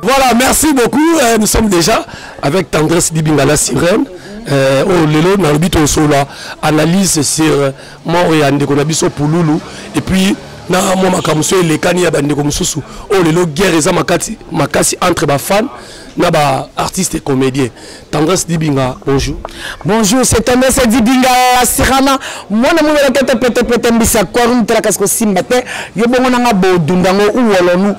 Voilà, merci beaucoup. Euh, nous sommes déjà avec Tendresse Dibingala Sirène. Euh, oh, lelo na lobi tosola analyse sur euh, mort ya ndeko na biso pululu et puis na mwa makambo so elekani ya bandeko mosusu oyo oh, lelo guerre eza makasi entre bafane na ba artiste et comédien tendresse dibinga bonjour bonjour c'est tendresse dibinga la sirana mwana mwana la tete pete pete mbisa quorum tela kasi kosimba te yo bongo nanga bodunda ngo uwolonu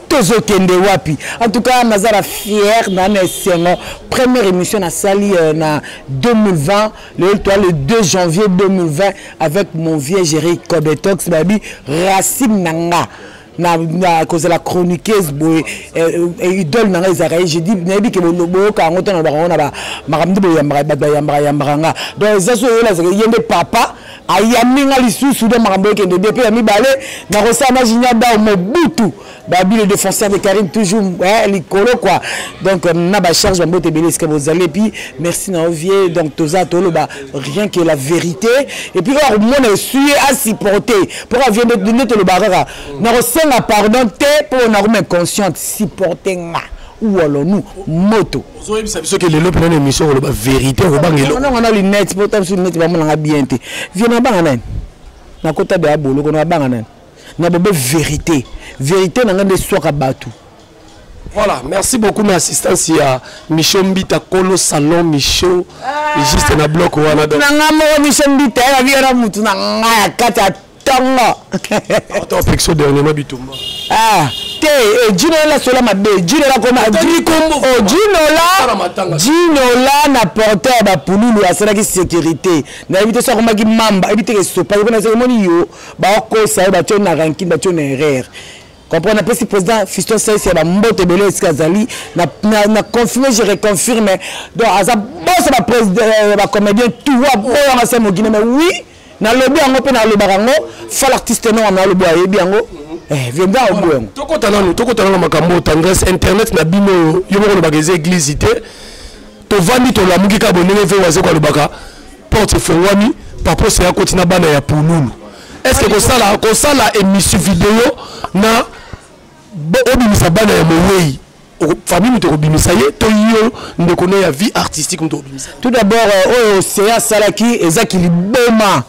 tozokende wapi en tout cas naza na fière na na esengo première émission nasali euh, na 2020 lelo toa le 2 janvier 2020 avec mon vieux géri codetox babi racine na nga na, na kozala chroniqueuse boye eh, eh, idole na ngai ezalaka ye je dis nayebi ke boyoka yango ntango nalobaka yango na makambo nde boyambaka bato bayambaka yambaka nga donc eza so oyola ezalaka ye nde papa ayambi nga lisusu do makambo ekende bien mpe ya mibale nakosala na jinia dao mobutu babile défenseur de carine toujours eh, likolo quoi donc euh, na bacharge bambote ebele esika bozali epuis merci na ovie donc toza toloba rien que la vérité et puis kaka komona esui ye asupporte mpo kaka vie nde tolobaka kaka nakosenga pardon te mpo nakoma inconsciente supporte nga uolonu moto ozoyebisa biso ke lelo mpena na émission koloba vérité okobanga elongo na lunette mpo ta biso lunette bamonanga bien te vie nabanga nani nakota de ya boloko nabanga nani nabobe vérité vérité na ngai nde eswaka bato Voilà, merci beaucoup ma assistance ya Micho Mbita Kolo Salon Micho ah, juste na bloc wana donc. Na nga moko Micho Mbita ya biara mutu na nga ya kati ya tongo. Attends, pexo dernièrement bitumba. Ah, te ejino eh, la sola mabe, ejino la koma ejino la jino la na porteur ba pululu asalaki sécurité. Na yebi te so akomaki mamba, yebi te esopa, yebi na se moni yo ba okosa yo ba tyo na rankin, ba tyo na erreur. comprendre napesi président fiston saisi ya bambote ebele esika azali na confirme je reconfirme donc aza boso bacomédien euh, tout aboyanga se mogine mais oui nalobi yango mpe nalobaka yango fa l'artiste no wana nalobi ayebi yango eh, vieux mbia obo yango tokota nanu tokota nanu makambo oyo tendresse internet na bino oyo yo moko olobaka eza église te tovandi tolamuki kaka bondenge ve waze kolobaka porte efongwami paposa ya koti na bana ya pululu est ce que kosala kosala émission video na obimisa bana ya mowei famille moto ekobimisa ye to yo ndeko na ya vie artistique moto ekobimisa tout d'abord euh, oyo oh, sea asalaki ezaki liboma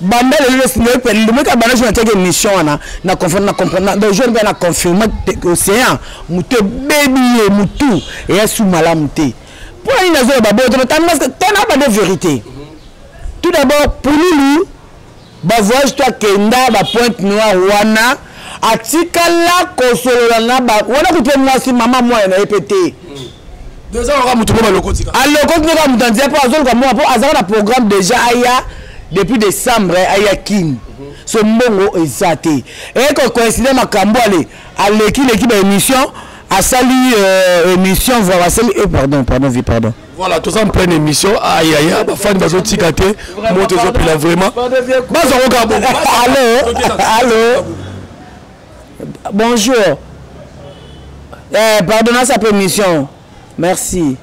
banda lelo lomeka banda jour natiaki émission wana na comprendre donc jour mpe na confirme océan moto ebebi ye motu eya su malamu te mpo na nini nazoloba boye totanga tana bande vérité tout d'abord pululu ba voyage to akenda ba pointe noire wana atikala kosolola na ba wana kutu mwasi mama mwana na ye mpe te alokoti kaka moto anzia mpo azoluka mwana mpo azalaka na programme déjà aya depuis décembre aya kin mhm. so mbongo eza te eko coïncide makambo ale alekileki baémission asali euh, émission voa basali e eh, pardon pardon vi pardon voilà toza en pleine émission ayaya bafani bazotika te moto ezopela vraiment bazango kaka bongo allo allo bonjour eh, pardon nasa mpe émission merci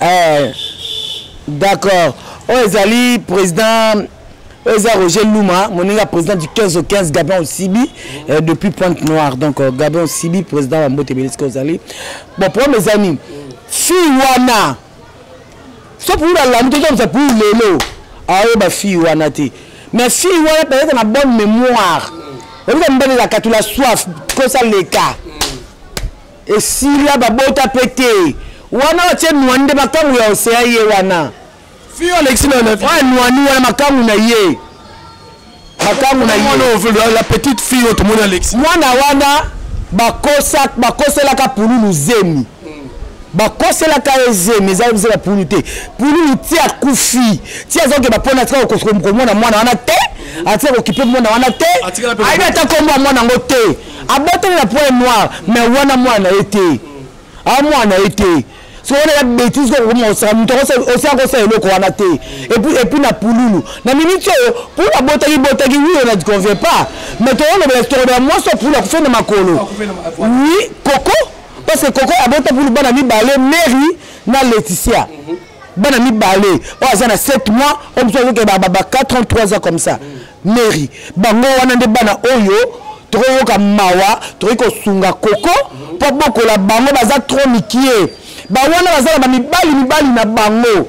eh, d'accord oyo oh, ezali président oyo eza roger luma moninga ya président du 15 au 15 gabin osibi euh, depuis pointe noire donc euh, gabin osibi président ya mbote ebele sika ozali bon problème eza nini fille wana so pour alandi toza koza pour lelo aoyeba fille wana te mais fille wana peut-être na bonne mémoire oyebika mobali elaka tula soif kosa leka esila babota mpe te wana otie nwa nde makango ya oseya ye wana Fio alexi na na. Ouais, noani wana makangu na ye. Makangu na ye. La petite fille oyo tomoni alexi. Mwana wana bakosa bakoselaka pululu zemi. bakoselaka ye zemi eza kozela pulu te pululu ti akufi ti azokeba mpo na tika komona mwana wana te atika kokipe mwana wana te ayebi ata kombo ya mwana yango te aboteli na point noir mais wana mwana ye te a mwana ye te soki wana ya betise koko koma kosaka moto osi akosala eloko wana te epuis na pululu na miniti oyo pulu abotaki botaki wi ona convient pas mais tokolobela tokolobela mwasi oyo pulu akufeli na makolo wi koko parce que koko abota pulu bana mibale mary na laetitia mhm. bana mibale oyo aza na 7 mois oyo mosusu azokeba ba 4 ans 3 ans comme ça mm. mary bango wana nde bana oyo tokoyoka mawa tokoki kosunga koko mpo abokola bango baza trop mikie bawana baza na bamibali mibali na bango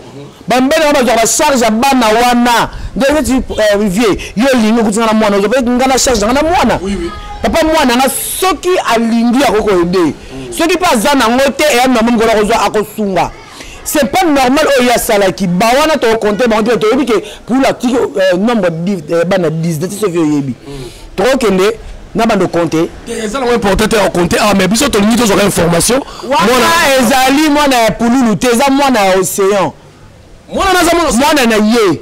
bamibali yango bazwaka bacharge ya bana wana nde neti eh, vie yo olingi okutinga na mwana ozwa mpe ngai na charge nanga na mwana papa mwana nga soki alingi akoki koyede soki mpe aza nango te eyani na moni kola kozwa akosunga c'est pas normal oyo asalaki bawana tokokonte bango te toyebi ke pula tiki euh, nombre euh, bana 19 ti soki oyebi tokokende na bando compte eza nango important te ya compte awa ah, mais biso tolingi tozwaka information wana ezali mwana ya pululu te eza mwana ya océan mwana na ye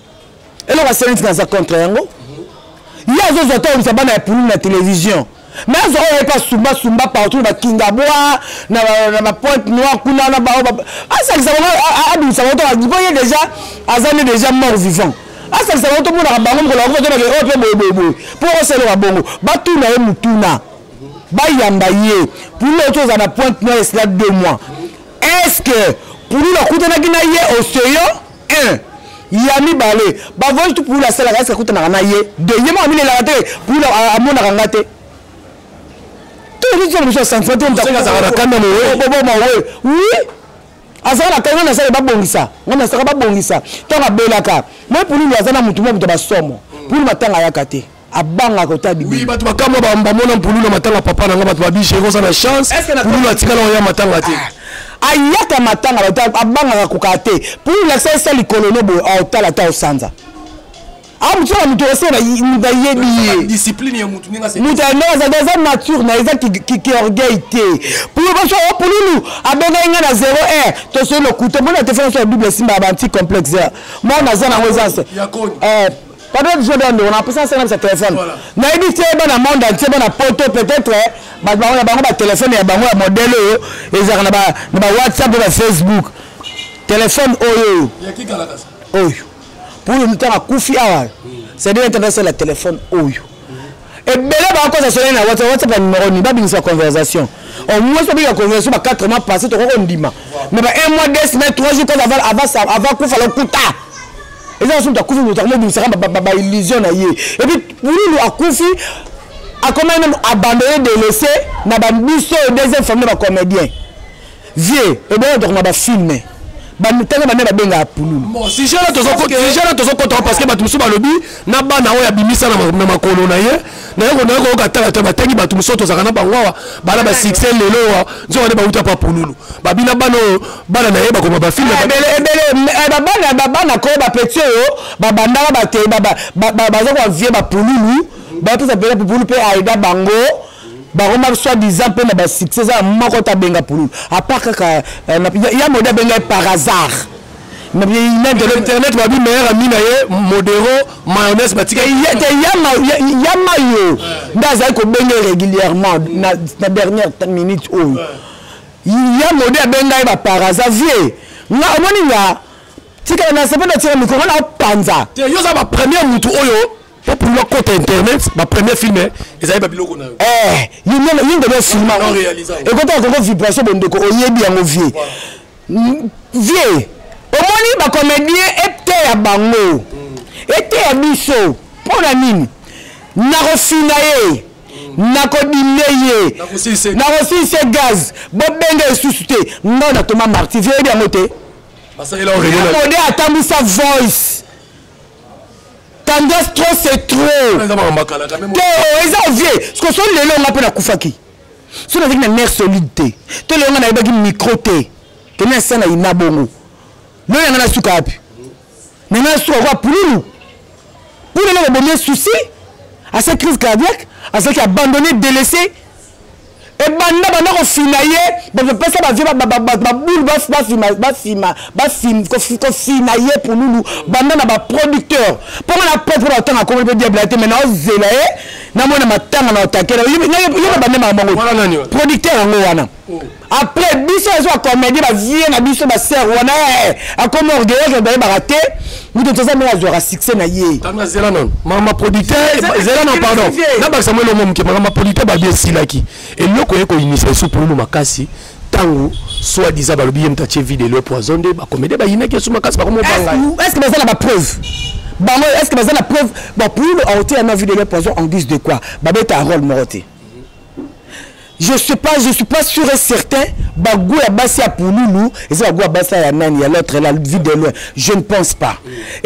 eloko aseneti naza contre yango ye azozwa to ayebisa bana ya pululu na télévision me azo oyo ye mpe asumbasumba partout na bakingabwa na bapointe noire kuna na bao asalisa bango abimisa bango toka mpo ye déjà aza nde déjà mort vivant asalisa bango tomonaka bango mokolo yango batonake oyo mpe boyeboyeboye mpo osalaka bongo batuna ye motuna bayamba ye pululu oyo tozala na pointe noire esila deux mois est ce que pululu akutanaki na ye oseyo 1 ya mibale bavoyage tu pula asalaka esi akutanaka na ye de ye moko amilelaka te pula amonaka nga te toyebisa mosu asantima te azalaka na kanda moboboma we wi azalaka na kanda nasala babongisa nga nasaka babongisa ntango abelaka moi pululu aza na motu mwa moto basomo pululu matanga ayaka te abanga kota bibi oui bato bakamwa bamona mpululu ya matanga papa na nga bato babishe ekoza na chance mpululu atikala oya matanga te ah. ayaka matanga abangaka kokaa te mpo olakisa esa likolo no boye aotala ata osanza amusala moto ose moto ayebi ye moto yandoazali aza nature na eza kiorgueil te polobaso ya pululu abengaki ngai na 0 r tosoi lokuta mona telefone so ya double esimba ya banti complexe mona aza nango eza Pardon biso ndio ndeko na pesa na sena téléphone. Na yebi te ba na monde entier ba na poto peut-être eh, ba ba na bango ba téléphone ya bango ya modèle oyo ezaka na ba na ba WhatsApp na Facebook. Téléphone oyo. Ya kikala kasa. Oyo. Pour le temps akufi awa. C'est-à-dire internet c'est la téléphone oyo. ebele bakosa soni na whatsapp whatsapp ya numero nini babimisa conversation au moins babika conversation ba 4 mois passé tokoki kondima mais ba 1 mois 2 semaines 3 jours ava kufa lokuta eza nasumu takufi moto akomobimisaka baillusion na ye epuis bululu akufi akomaki meme abandonne delaisse na babiso oyo deuxième famille bacomédien vie obongo tokoma ba filme bamutanga bamia babengaka pululu sujet na tozokota parce que bato mosusu balobi na bana oyo abimisa na makolo na ye naye konaya koyoka tala te batangi bato mosusu tozalaka na bango awa bana basuccès lelo oyo nzoka nde bauta pa pululu babina bana oyo bana na ye bakoma bafilme ah, eh, babana koyo bapeti oyo babandaka bazokoa vie bapululu bapesa mpela pupulu mpe aida bango bakoma soit disant mpe na basuccès eza moko te abenga pululu apart kaka euh, ya mode abengai par hasard internet babi meilleur ami na ye modero mayonnaise batikate ya mayo nde azali kobenge régulièrement na dernière minute oyo ya mode abengai ba par hasard vie nga omoni nga tikala na sepe na tika mikolo na opanza yo oza bapremier motu oyo Pe pour leur compte internet, ma première film hein, ezali ba biloko na yo. Eh, yinga yinga na film. Ekota koko vibration bondeko oyebi yango vie. Vie. Omoni ba comédien eteya bango. Eteya biso. Pona nini? Nakofina ye. nakodimne ye nakosilise gaz bobenge esusu te ngai na toma marti vie yebi yango te mode atambwisa voice tendresse trop c'est trop to eza ovie siko so lelo nga mpe nakufaki so nazaki na mare solide te to lelo nga nayebaki micro te kende na sena ina bongo lelo yanga nasuka wapi nanga nasuka kwa pululu pululu bobomi susi asa crise cardiaque azalaki abandonné délaissé ebanda banda kofina ye bapesa bavie babulu kofina ye pululu banda na baproducteur mpo nga na propre batanga akomeli mpe diable te mai naozela ye namona matanga na otakela yeba bande makambo yango producteur yango wana oh. après biso ezo ya comédie bavie na biso basere wana eh, akomi orgueilleuse na bayebaka te moto toza mpe azwaka succès na ye tanga zela nano mama producteur zela nano pardon nabakisa mwa elongo moke makama producteur babi esilaki eloko ye koyinisa esu pululu makasi ntango soit disant balobi ye moto atie vide elio poison nde bakomede bayinaki esu makasi bakomobanga est ce que baza na bapreuve bango est ce que baza na preuve bapululu aoteya na vide elio poison en guise de quoi babeta role moko te je sais pas je suis pas sûr et certain bago ya basi ya pululu eza bago ya basi ya nani ya l'autre la vie de loin je ne pense pas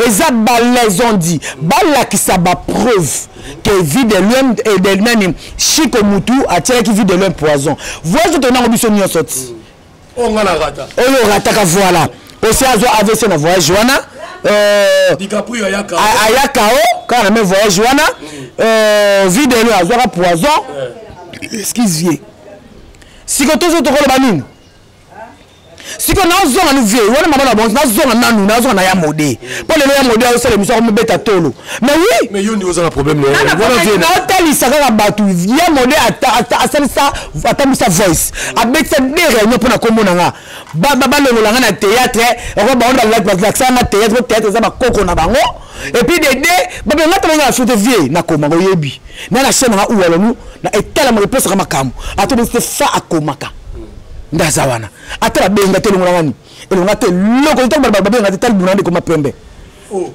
eza balaison dit balakisa bapreuve ke vie de loin eh, de nani chiko mutu atielaki vie de loin poison voice totonango biso nyonso ti Oh, oyo orataka voilà osi azwa avc na voyage wana euh, ayaka o kaka na me voyage wana mm. euh, videno azwaka poison excuse vie siko tozo tokoloba nini siko nazonga nu vie wana mama na bonso nazonga nanu nazonga na ya mode mpo lelo ya mode aosala emisio akomibeta tolo mais oui mais yo nde oza na problème na wana vie na otalisa kaka bato ya mode asalisa atambwisa voice abetisa de réunion mpo na kombo na nga balongola nga na théâtre oko bango balakisa nga théâtre po théâtre eza bakoko na bango et puis dede babe nga tala nga na sote vie nakoma ngo yebi na na chaîne nga uwalonu na etalamaka epesaka makambo ato bete fa akomaka nde aza wana ata babenga te elongola ngani elonga te loko ntango babenga te tali buna nde ekoma pembe oh.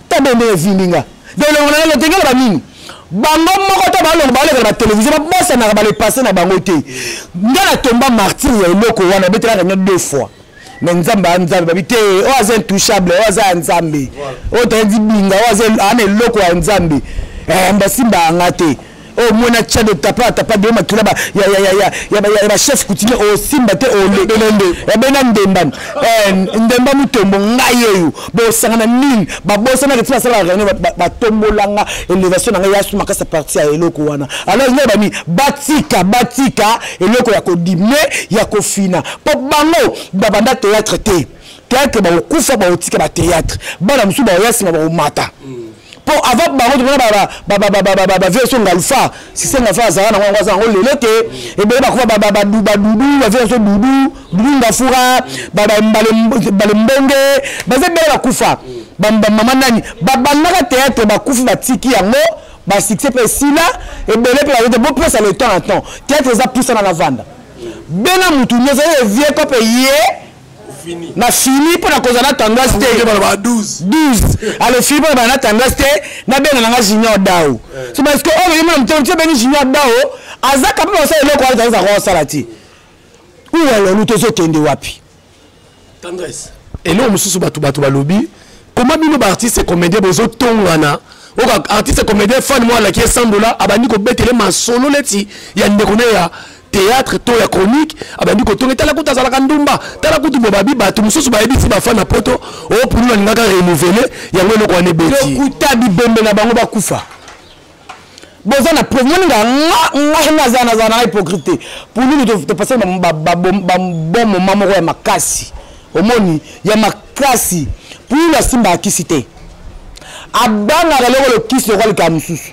ta bende ezindi nga donc elongo na nga lotengela banini bango moko ta balongo baleka na batelevizio babosanaka balepase na bango te nga na tomba martir ya eloko wana obetelaka nyo deux fois me nzambe ya nzambe babi te oyo aza intouchable oyo aza ya nzambe oyo toyedi binga oyo aza ana eloko ya nzambe eh, basimba yanga te oyo mona cado tapa atapa deo makila ya bachef coutumier osimba te oyabena ndemba eh, ndemba motombo ngai eyo bosangana nini babosanaka ti basalaka reunion batombolanga elevation na ngai yasu makasa parti ya eloko wana alors ngai bani batika batika eloko ya kodime ya kofina mpo bango babanda théâtre te théâtre bakokufa bakotika batéâtre bana mosusu bakoya nsima bakomata mm. po avant bango tomona bavie so ngalfa sise ngalfa azala nango yango aza yango lelo te ebele bakufa badudu bavie so dudu dudu ngafura bale mbonge baza ebele bakufa bamama nani babandaka teatre bakufi batiki yango basuccès mpe esila ebele mpe bayote bopesa le temps na temps teatre eza pusana na vanda bena motu nyonso ye vie kope ye nafini mpo na kozala na tendance te 12 alo fini mpo na bana na tendance te nabenga na nga junior dao eh. so parce que oyo oh, nayebi na motema tia beni junior dao azaka mpe basala eloko wana tendance akoka kosala ti uwa lolu tozokende wapi eloko mosusu bato bato balobi koma bino baartiste comédien bozotongana oka artiste comédien fan mwa alaki esandola abandi kobetele masolo neti ya ndeko na ya théâtre to ya chronique abandi kotonga tala kutu azalaka ndumba tala kutu bobabi bato mosusu bayebisi bafani na poto opulu nalingaka renouvele yango eloko wana ebetilokuta bibembe na bango bakufa boza na preuve moni nga ngai naza naza na hypocrite te pululu topasaki babon moma moko ya makasi omoni ya makasi pululu asimbaka kisi te abangaka eloko lokisi lokola likaa mosusu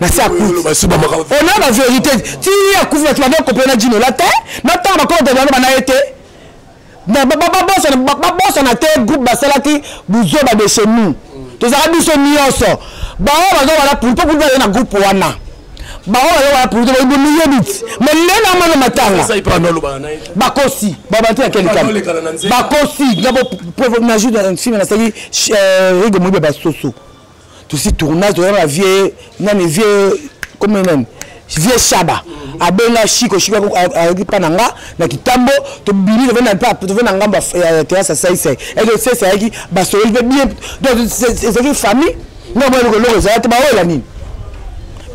na se akuona ba verité ti akufi bato bande kopela na jinola te na ntango bakobata bana bana ye te babosana te groupe basalaki buzoba de chez nous tozalaka biso nyonso bango baza wana pulito kutu aye na groupe wana bango baye wana pulito bayebi miyebi ti me lelo amana matanga bakosi babante ya kelikama bakosi na boprofomnajur na nsima nasaki rigo moyibi ya basoso tusi tournage toza na vie nani vie comme nani vie shaba abenga shiko shiko ayoki mpa na nga na kitambo tobimi tove na ngambo ya terase ya saisai eke sese ayaki basololi mpe bien donc ezalaki famille nga mwa eloko eloko ezala te baoyo ya nini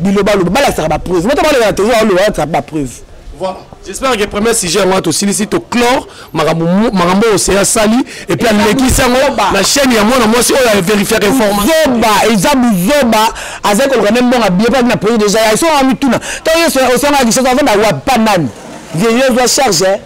bilobaloba balakisaka bapreuve mota baloba na televizio baolobaka bapreuve Voilà. J'espère que premier sujet yango tosilisi toclore makambo makambo oyo seya asali epuis alekisi yango na chaîne ya mwana mwasi oyo averifiaka informationzoba eza buzoba azali koluka nde mbongo abie paki na projet deja ya esonga mituna ntango yesu osonga lisoso azonda wapa nani vieille ozwa charge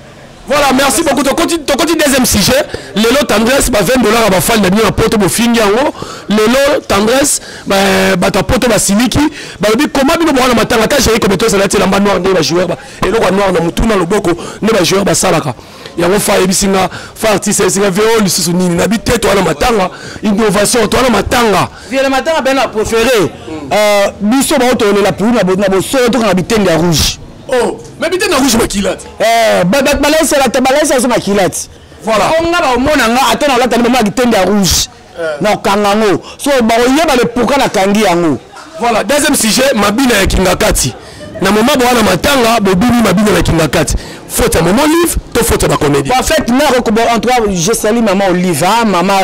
Voilà, merci beaucoup. Tokoti tokoti deuxième sujet. Lelo tendresse ba 20 dollars ba fan na bino na poto bo fingi yango. Lelo tendresse ba ba ta poto ba siliki. Ba lobi comment bino bwana matanga ta jeri kometo ça lati lamba noir nde ba joueur ba. Elo kwa noir na mutu na loboko nde ba joueur ba salaka. Yango fa yebisi nga fa artiste yebisi nga VO lisusu nini na bite to na matanga innovation to na matanga. Vieux matanga ben na préféré. Euh biso ba otolela pour na bo na bo solo to na bitende ya rouge. oh mais bite na rouge makila ti eh bato balaisela te balaisa biso makila ti voilà o nga baomona nga ata na olatani bamona kitende ya rouge eh. na okanga yango so bakoyeba le pourkui nakangi yango voilà deuxième sujet mabina ya kingakati na moma bowana matanga bobimi mabina na kingakati faute ya mama olive to faute ya bacomédie en fait mère okobo en tout cas je salue maman olive hein, maman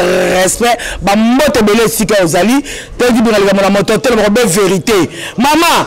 respect bambote ebele esika ozali toyebi bino likambo na moto te lokobe vérité mama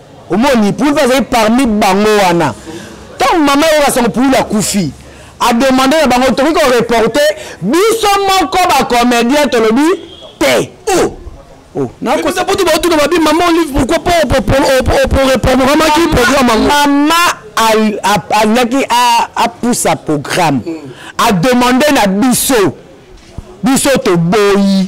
omoni pulu mpe azali parmi bango wana ntango mama oyo basango pulu akufi ademande na bango tokoki koreporte biso moko bacomédien tolobi te oh. Oh, nakosa mpo tobautuka babi mama olive pourquoi po reprogramaki programme yango mama alingaki apusa programme hmm. ademande na biso biso toboyi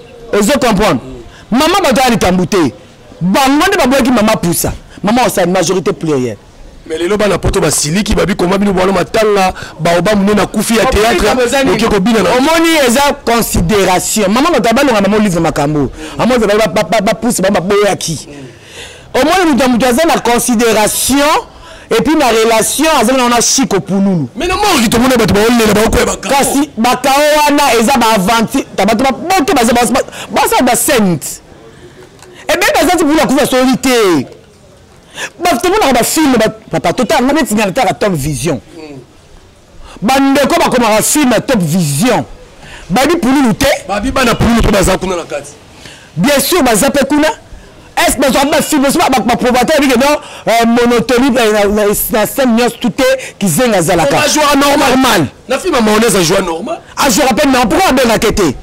ozo comprendre mama bato ya likambo te bango nde baboyaki mama pusa mama osali majorité plurielle mais lelo bana poto basiliki babi koma bino bwana matanga baoba mune na kufi ya théâtre oke kobina omoni eza considération mama bato ya balonga mama olive makambo amoni bapousse bango baboyaki omoni moto ya moto aza na considération epuis na relation azali na wana chiko pululu menomorki tomona bato baolela baokoya bakao kasi bakao wana eza baaventure bato baboto baza basala basente ebe eh baza ti pululu akufa soli te tomonaka bafilme papa totanga neti nga nataka top vision bandeko bakomaka film ya top vision babi pululu te babi bana pululu mpe baza kuna na kati bien sûr baza mpe kuna est ce bazwaka bafilme so baprobateur bike no euh, monotonie na scène nyonso tout te kizenga azalaka normal na filme amaonese ajua normal ajouaka mpe non pourkoi abengaka te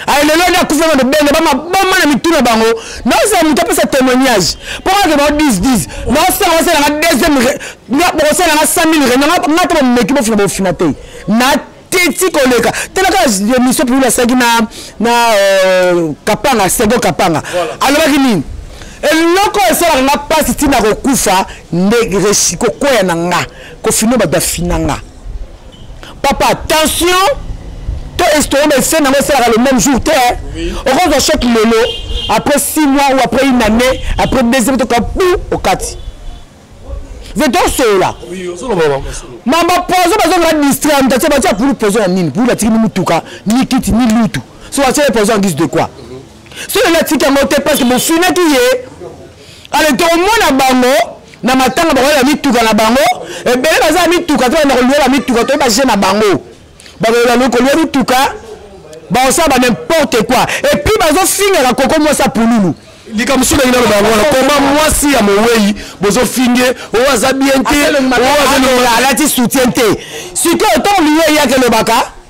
aye lelo nde akufa na lobenge bamaboma na mitu na bango naozala moto apesa témoignage mpo kaka bao 10 naosala osalanga deuxième bokosalanga 100 mille rena nga to bameki bofina bofina te na teti koleka talaka émission pulu asalaki na na euh, kapanga sego kapanga alobaki nini eloko esalaka nga mpasi ntina kokufa nde kokwea na nga kofina bato afina nga papa tension to estomac esene yango esalaka le même jour te okozwa choc lelo après 6 mois ou après une année après deuxième toka bu okati vetosolola mama poison bazongela distraire moto atie batia pulu poison ya nini pulu atikini motuka ni kiti ni lutu so atie ye poison en guise de quoi soki natiki yango te parce que bofinaki ye ale tokomona bango na matanga bakoya na mituka na bango ebele baza na mituka te banda koluya na mituka toyebi baje na bango bakoyeba koluya mituka baosala ba n'importe quoi epuis bazofingaka koko mwasi ya pululu likambo soki ndenge naloba yango wana koma mwasi ya mowei bozofinge oyo aza bien te alati soutien te sikoyo ntango liyo eyaki elobaka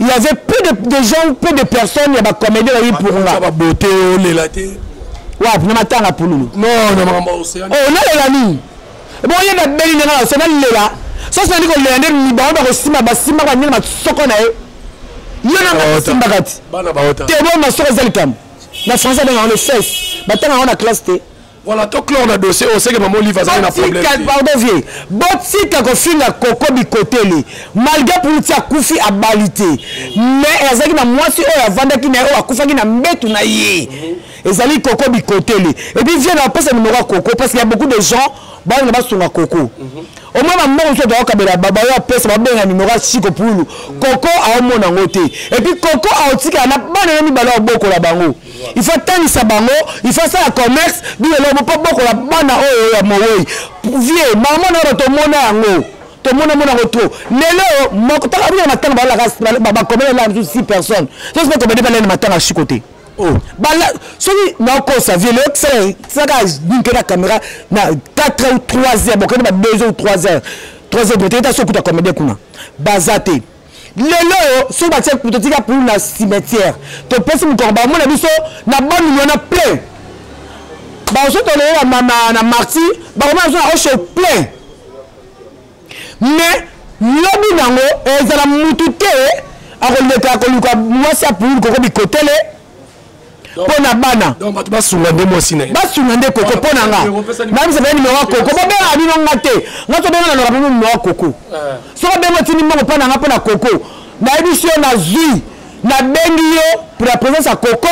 il y avait peu de, de gens peu de personnes ya bacomédie bayi purunga babote olela te wapi na matanga pululu onalela nini boye babeli ndenge naso nalela soki nandi kolela nde mibango bakosimba basimbaka bandenge masoko na ye yo nanga basimbaka ti tebo masoko eza likambo na français abengaka le fes batanga yango na classe te Voilà, to clore na dossier oyo seke mama Olive azali na problème. Pardon vieux. Botika kofinga koko bikoteli. Malgré Puluti akufi abali te. Mais azalaki na mwasi oyo avandaki na ye oyo akufaki na mbetu na ye. Ezali koko bikoteli. Et puis vieux na pesa numéro ya koko parce qu'il y a beaucoup de gens bana basunga koko. Mm -hmm. Omwe ba mbongo soto akabela baba yo apesa babenga numéro ya Chico Pulu. Mm -hmm. Koko aomona ngo te. Et puis koko aotika na bana na mibale obokola bango. il faut atangisa bango il faut asala commerce bilelo mpo bokola bana oyo ya mowei vie mama na bato omona yango tomona mona yango trop lelo mokotakabina matanga bakomela na biso six personnes sosi bakomede balene matanga siko te oh. bala soki nakosa vie lelo tisalaka binke na caméra na 4 heures ou 3 heures bokende ba 2 heures ou 3 heures 3 heures bote eta sokuta comédien kuna baza te lelo oyo soki batie totika pulu na cimetière topesi mokoko bamona biso na bamilio na plein baosotolela na marti bakomona biso na osho plein mais lobi nango ezala mutu te akoleka koluka mwasi ya pulu koko bikotele mpo na bana basunga nde mwasi na ye basunga nde koko mpo na nga nayebisa bana nimero ya koko bobenga bino nga te nga tobenga na loka bino nimero ya koko eh. soki obenga otindi mbongo mpo na nga mpo na koko nayebisi yo nazwi nabengi yo pour la présence ya koko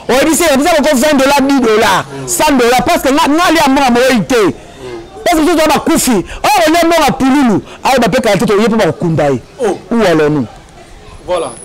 oyebisi yebisa koko 20 dollar 10 dollar 100 dollar parce que nga alia mbongo moyei te parce que soki bakufi oyo olia mbongo ya pululu ayeba mpe kala te toye mpo bakokunda ye ou alonu voilà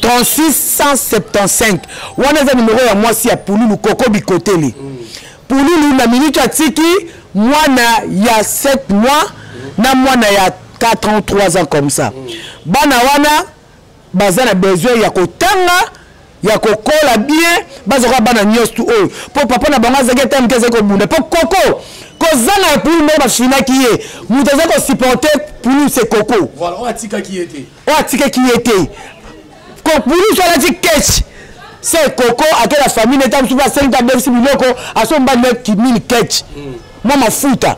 3675 wana eza nimero ya mwasi ya pululu koko bikotele pululu na minute atiki mwana ya 7 mois na mwana ya 4 ans 3 ans comme ça bana wana baza na besoin ya kotanga ya kokola bien bazoka bana nyonso tu oyo mpo papa na bango azalaki ata moke azali kobunda mpo koko kozanga ya pulu ndenge bafinaki ye moto aza kosupporte pulu se koko oyo atikaki ye te kokulusu alati keche se koko ake na famille neta mosusu asengi mpe abebisi biloko aso mbali na kimini keche mwa mafuta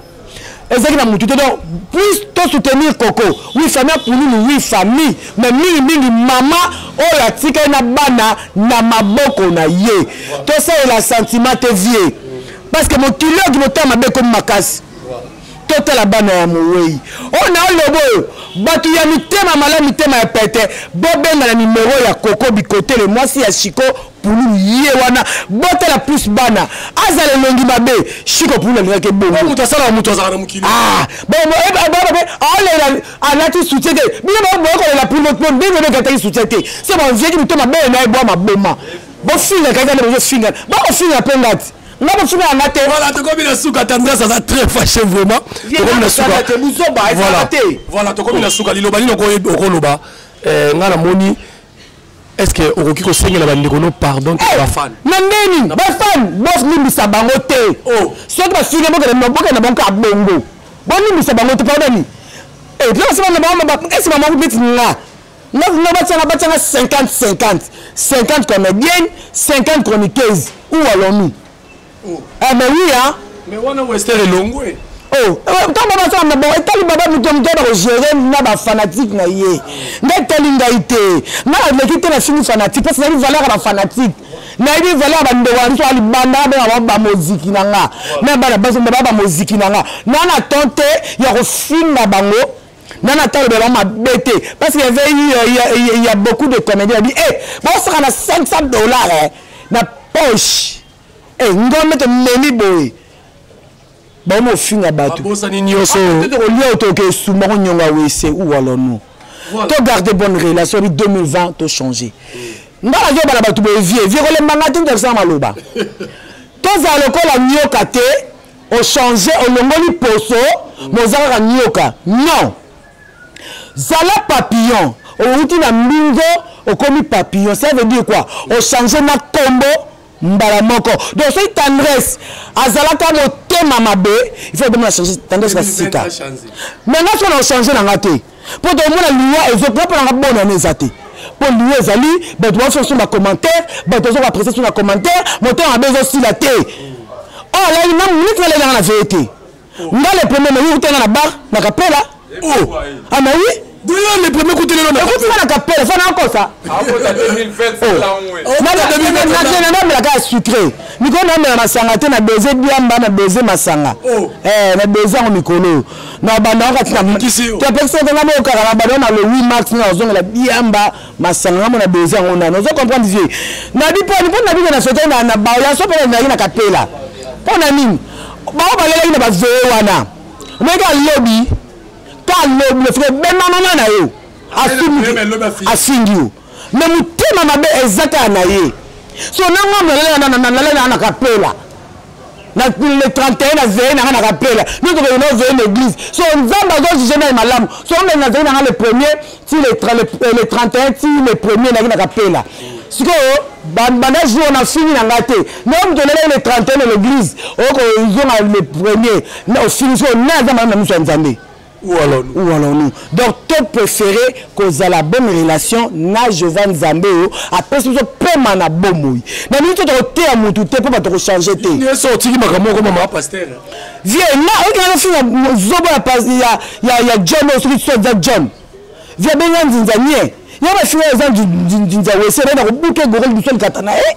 ezalaki na motu te donc plus to soutenir koko wi famille apululu wi famille mais mingimingi mama oyo atikali na bana na maboko na ye tosalela sentiment te vie parce que mokili oyo kimotama mabe ekomi makasi totala bana ya mowei oyo oh, na oloba oyo bato ya mitema malamu mitema ya pete bobenga na nimero ya koko bikotele mwasi ya shiko pulu ye wana botala plus bana azala elongi mabe shiko pulu alingaki ebongomoto asalaka moto azalaka na mokili ah, aolela alati soutien te bino baboya kolela pulu ndenge bekataki soutien te se banziaki mitema bee na ye bwa maboma bofingaka kaka nde bozofingana bakofinga mpe ngati nga bofinga yanga te voilà tokomi na suka tendresse aza très fâché vraiment tokomi na suka te buzoba ezala te voilà tokomi na suka liloba nini okoloba eh, nga namoni est ce que okoki kosengela bandeko no pardon to eh, bafan na ndeni bafan bolimbisa bango te oh. soki bafinga bokende na bango kaka bongo bolimbisa bango te pardoni eh, esi bango neti nga nga nga batianga batianga 50 50 50 comédienne 50 chroniqueuse ou allons-nous oh. eh mais oui hein mais wana wester elongwe oh eh, ntango basala maboko etali baba moto moto bakogere na bafanatike na ye nde etali ngai te nga naleki te nafingi fanatike mpe ezali valeur ya bafanatike nayebi valeur ya bandeko na biso ya libanda abengaka bamoziki na nga me bana basi baba bamoziki na nga na na temps te ya kofinga bango nana atalobela bango mabe te parce que yavait eu euh, ya, ya, ya beaucoup de comédien abi e bosaka na 500 dollars eh, na poche e eh, ngombe tomemi boye baomi ofinga bato olia otoke esumba konyonga wese uwalonu to garde bonne relation bi 2020 to change nga nazo bala bato boye vie vie kolemba nga te nzakisanga maloba tozala lokola nyoka te o changer olongoli poso moza kaka nioka non zala papillon outi na mbinzo okomi papillon ça veut dire quoi o changer na kombo mbala moko donc soki tendresse azalaka motema mabe il faut obomona changer tendresse na sika mais nga sona ochange na nga te mpo tokomona liwa ezo mpo mpo nanga bona na eza te mpo liwa ezali bato basoso na commentaire bato bazo baprese so na commentaire motema mabe ezosila te oyo alali na minute nalali nanga na veye te nga le premier nayoki te nga na bar na kapela o ama wi D'ailleurs, les premiers coups de l'élan. Écoute, ça, la capelle, ça, n'a pas ça. Ah, pour ta 2020, c'est là où est. On a 2020. On a 2020, on a la sucré. Miko, on a la masanga, on a baisé bien, on a baisé masanga. Oh. Eh, on a baisé en micro. na banda wana kati na topekisoki nga mokaka na banda na le 8 mars nga nazongela diamba masanga nga mona bezi yango nani ozo comprendre vie nabi mponi mpo nabi na sote na bayaso mpo nazalaki na kapela mpo na nini bao balelaki na bavee wana omeki alobi ka alobi ofika ebenda mama na yo afingi yo me motema mabe eza kaka na ye so nanga nalela na kapela na le 31 na veye na nga na kapela nde tokende na veye na église so nzambe azojuge ngai malamu so omeli na veye na nga le premier ti le 31 ti le premier naki na kapela sikoyo banda jour wana ofingi na ngai te ndenge moto olelaki le 31 na l'église okozonga le premier ofingi sikoyo nani aza malamu na miso ya nzambe Où allons-nous? Où allons-nous? Donc, to préféré kozala bonne relation na Jehovah Nzambe oyo apesi biso pema na bomoi. Na mingi to tokoteya mutu te mpo bato kochanger te. Yesu otiki makambo moko mama pasteur. Vie nga oyo kaka finga zobo ya pas ya ya ya John oyo soki so za John. Vie benga nzinza nye. Ya ba finga za nzinza wese na ko buke gorol du sol katana eh.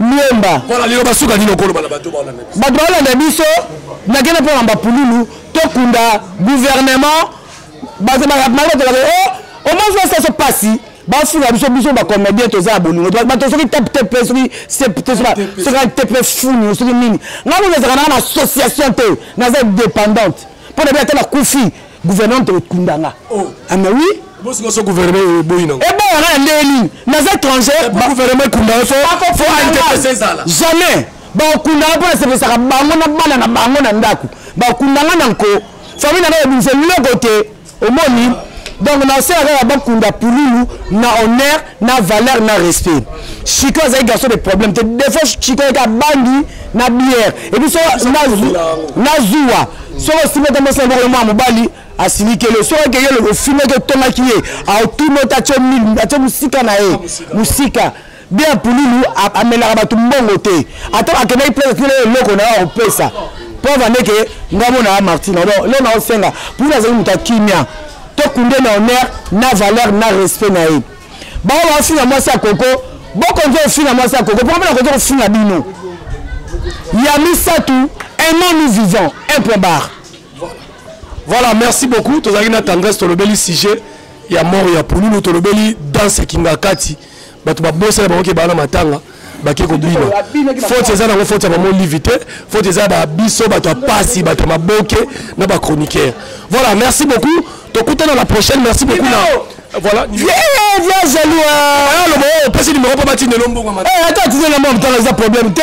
liemba mpona liloba suka nini okoloba na bato baolanda biso bato baolanda biso nakende mpona bapululu tokunda gouvernement bato bakolaka o oh, omwasi basaso mpasi bafuka biso biso bacomédien toza ya bolingo bato soki teptepe soki soki tepe funi soki nini ngai nazaka nanga na association te naza dépendante mpo na bi ata nakufi gouvernement to kunda nga oh. ama ah, oui bosiko so gouvernement eboyi nango eboya nga na ndenge nini naza étranger gouvernement ekunda yo fo fo interesse ezala jamais bakunda nga mpo nasepesaka bango na bana na bango na ndako bakunda nga na nko famille na nga ebimisa eloko te omoni donc nasalaka ya bakunda pululu na honneur na valeur na respect chico azali garçon de problème te defo chico yeke abangi na bière epuis so na zuwa soki osimbi ata mwasi yango mwa mobali asilikeli yo soki akeye lobo ofingaki otongaki ye aotuni ota atye mil atye mosika na ye mosika bien pululu amelaka bato mbongo te ata akendaki place atikela eloko na yo akopesa mpo avandeke ngamona ya martina donc leo naosenga pululu azali moto ya kimia tokunde na honneur na valeur na respect na ye bango baofinga mwasi ya koko bokonzi ofinga mwasi ya koko poko mpona koki kofinga bino ya misato aimant nous vivant un point barre voilà merci beaucoup tozalaki na tendresse tolobeli sujet ya mort ya pululu tolobeli danse kingakati bato babosana bango ke baa na matanga bake kobina faute eza nango faute ya mama olive te faute eza ba biso bato ya pasi bato ya maboke na bachroniqueur voilà merci beaucoup tokutana la prochaine merci beaucoup na voilà vieux vieux jaloux aloba opesi numéro mpo batindelo mbongo ata atindela mwa motala eza problème te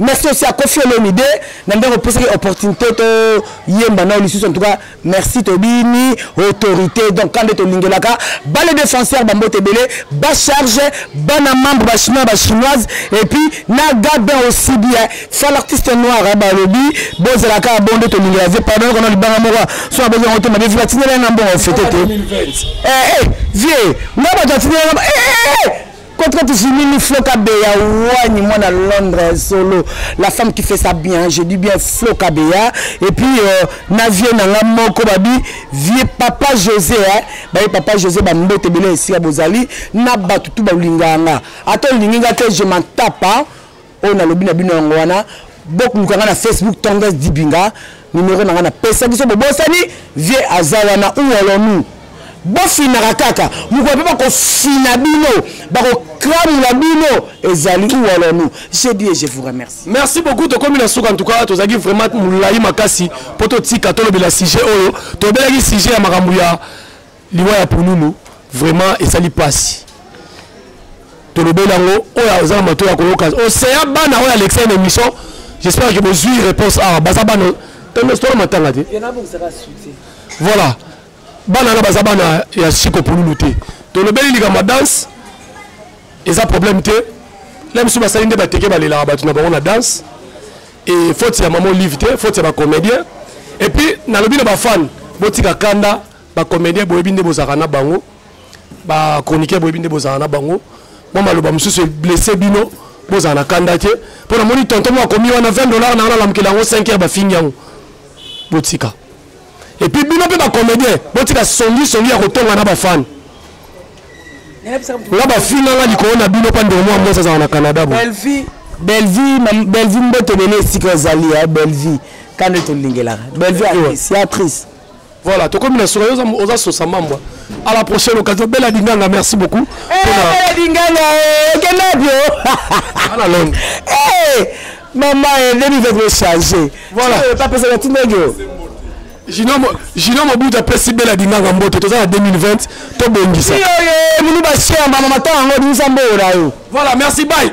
merci aussi à kofi olomide na ndenge opesaki opportunité toyemba nao lisusu en tout cas merci tobini autorité donc kande tolingelaka bale défenseur bambote ebele bacharge bana membre bachinois bachinoise et puis na gabin aussi bien fa l'artiste noir balobi bozala kaka bo nde tolingela vie pardon kona libanga moko so aboki yango te mabe vi batinela nga mbongo fete te eh, eh, vie nga bato atinela nga eh, eh, Contre tu finis ni floka beya wani moi na Londres solo la femme qui fait ça bien je dis bien floka beya et puis euh, na vieux na nga moko babi vieux papa José hein baye papa José ba mbote bele esika bozali na batu tout ba linganga ato linginga te je m'en tape hein? oyo nalobi na bino yango wana bokoluka nga na facebook tonges dibinga nimero na nga napesaki so bobosani vie aza wana ou alors nous bofinaka kaka mokolo mpe bakofina bino bakokramula bino ezali ou alors nous je dis et je vous remercie merci beaucoup tokomi na suka en tout cas tozalaki vraiment molai makasi mpo totika tolobela sujet oyo tobelaki sujet ya makambo ya liwa ya pululu vraiment esali pasi tolobeli yango oyo aza na mato ya koyoka oseya bana oyo alexia na émission j'espère que bozwi réponse awa baza bana tona matanga te voilà bana wana baza bana ya siko pululu te tolobeli likambo ya danse eza problème te la misu basali nde bateke balelaka bato na bango na danse e faute ya mama olive te faute ya bacomédien epuis nalobi na bafane botika kanda ba comedien boyebi nde bozalaka na bango ba chroniqueur boyebi nde bozalaka na bango mwa maloba mosusu blesse bino bozala na kanda te mpo namoni tonton moko akomi wana 20 dollar na wana alamukela yango 5 heure bafingi yango botika epuis bino mpe bacomédien botika songi songi ya kotonga na bafani nga bafinganga likolo na bino mpa ndeko mwa mwasi azala na canada bo bellevie mboto ebele esika ozali ya bellevie kanda tolingelaka bellevie actrice Voilà, tokomi na suka yoza oza sosa mambwa. À la prochaine occasion Bella Dinganga, merci beaucoup. Eh Bella Dinganga, eh, kenda bio. Ana long. Eh maman, eh, ndebi va ko changer. Voilà, eh, pas pesa tinga yo. Jino Jino Mobutu apesi Bella Dinganga mbote toza na 2020 to bongisa. Yo yo, minu ba cher mama mata ngo dinsa mbo yo. Voilà, merci bye.